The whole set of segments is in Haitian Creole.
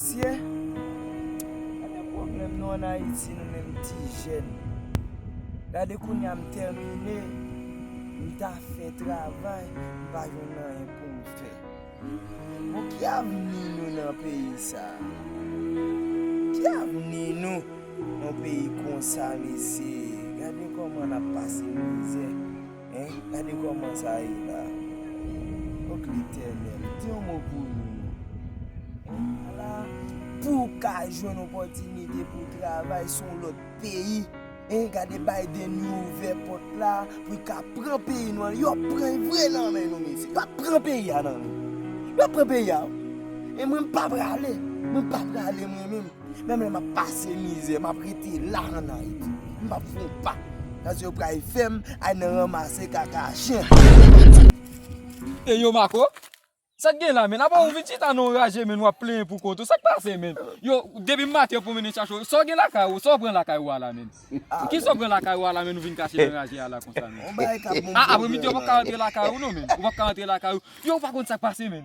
Mesye Gade pwoblèm nou an Ayiti nou menm ti jèn Gade kounya m tèmine m ta fè travay m pa jwenn anyen pou m fè Bon ki avni nou nan peyi sa Ki avni nou nan peyi konsa mesye Gade kòman n ap pase mizè. Hein gade koman sa ye la. Ok letènèl di yon mo pou nou non. Hein ala. Pou w ka jwenn opòtinite pou w travay sou yon lòt peyi. Hein gade Biden li ouvè pòt la pou l ka pran peyi nou an. Yo ap pran l vre nan men nou mesye. Yo ap pran peyi a nan men nou. Yo ap pran peyi a wi. E mwen m pa prale. Mwen pa prale mwen menm. Menm lè map pase mizè map rete la an ayiti m pap fè yon pa paske yo pral fèm al nan ranmase kaka chen. Ey yo Marco, sak gen la menn? Apa ou vin chita nan yon raje menn wap plenyen pou kont ou, sak pase menn? Yo, depi m maten yo pwomennen chache ou, sa w gen lakay ou, sa w pran lakay ou a la menn? Kisa w pran lakay ou a la menn ou vin kache nan raje a la konsa menn? Apremidi yo pap ka rantre lakay ou non menn, yo pap ka rantre lakay ou, yo ou pa konn sak pase menn?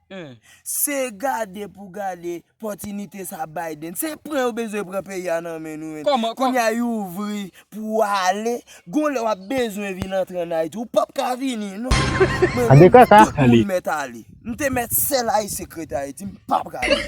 Humm. Se gade pou gade pòtinite sa Biden. Se pran yo bezwen pran peyi a nan men nou menm. Kòman, kòman. Kounya yo ouvri pou w ale. Gon lè wap bezwen vin antre an Ayiti ou pap ka vini non. Mwen menm tout moun mèt ale. M te mèt sèl Ayisyen k ret Ayiti m pa prale.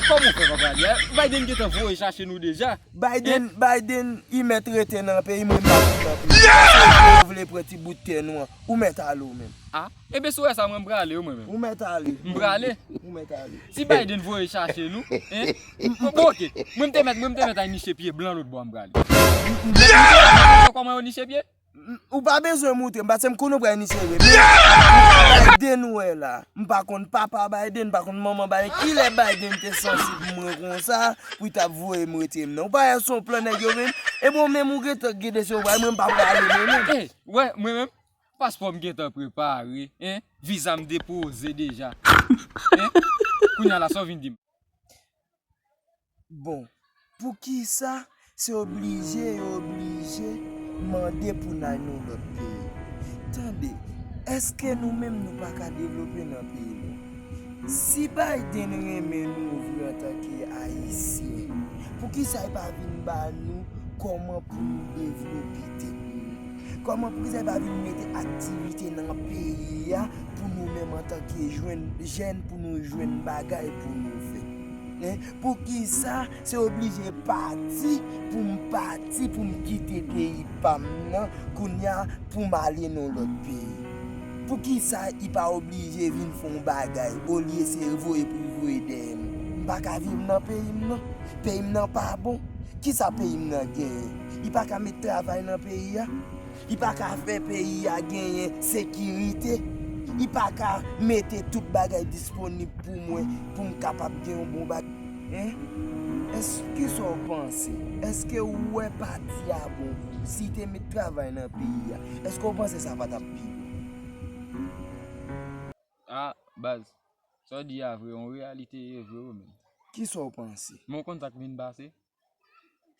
Kòman ou fè pa prale a? Biden gentan voye chache nou deja. Biden, Biden li mèt rete nan peyi mwen m pap vin nan peyi. Paske yo vle pran ti bout tè nou an. Ou mèt ale ou menm. Ah. Ebe sou wè sa mwen mprale wi mwen menm. Ou mèt ale. Mprale. Ou mèt ale. Si Biden voye chache nou hein bon ok mwen mte mèt mwen mte mèt al niche pye blan lotbò mprale. Ou mèt niche pye blan lotbò kòman yo niche pye? Ou pa bezwen moutre m paske m konnen ou pral niche vre men Biden ou wè la mpa konn papa Biden mpa konn manman Biden kilè Biden te santi pou mwen konsa pou li tap voye m rete m nan ou pa wè son plan nèg yo menm ebe ou menm ou gentan gede se ou pral mwen m pa prale mwen menm. Ou wè mwen menm. Paspò m gentan prepare hein Visa m depoze deja hein Kounya la sa w vin di m. Bon poukisa se oblije yo oblije mande pou n al nan lòt peyi Tande èske nou menm nou pa ka devlope nan peyi nou Si Biden renmen nou vre antanke ayisyen poukisa l pa vin ba nou kòman pou nou devlope tèt nou. Kòman prizay pa vin mete aktivite nan peyi a pou nou menm antanke jwenn jèn pou nou jwenn bagay pou nou fè e poukisa se oblije pati pou m pati pou m kite peyi pa m nan kounya pou m ale nan lòt peyi poukisa y pa oblije vin fè yon bagay olye se voye pou y voye dèyè m m pa ka viv nan peyi m nan peyi m nan pa bon kisa peyi m nan genyen. Li pa ka met travay nan peyi a, li pa ka fè peyi a genyen sekirite, li pa ka mete tout bagay disponib pou mwen pou m kapab gen yon bon bagay. Hein? Eske kisa w panse? Eske ou wè pati a bon pou ou? Si li te met travay nan peyi a, eske ou panse sa pa t ap pi bon? A, baz, sa w di a vre, yon reyalite ye vre wi menm. Kisa w panse? Men w konn sa k vin pase?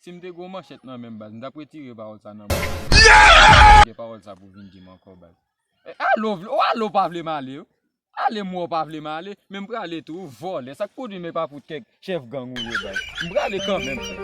Sim te gwo manchèt nan menm baz m tap retire pawòl sa nan bouch ou baz Ou gen pawòl sa pou vin dim ankò baz Alo vle ou alo pa vle m ale wi Ale m wè ou pa vle m ale men m prale tou ou vòlè sak pwodwi m epa pou tèt chèf gang ou ye baz M prale kanmenm.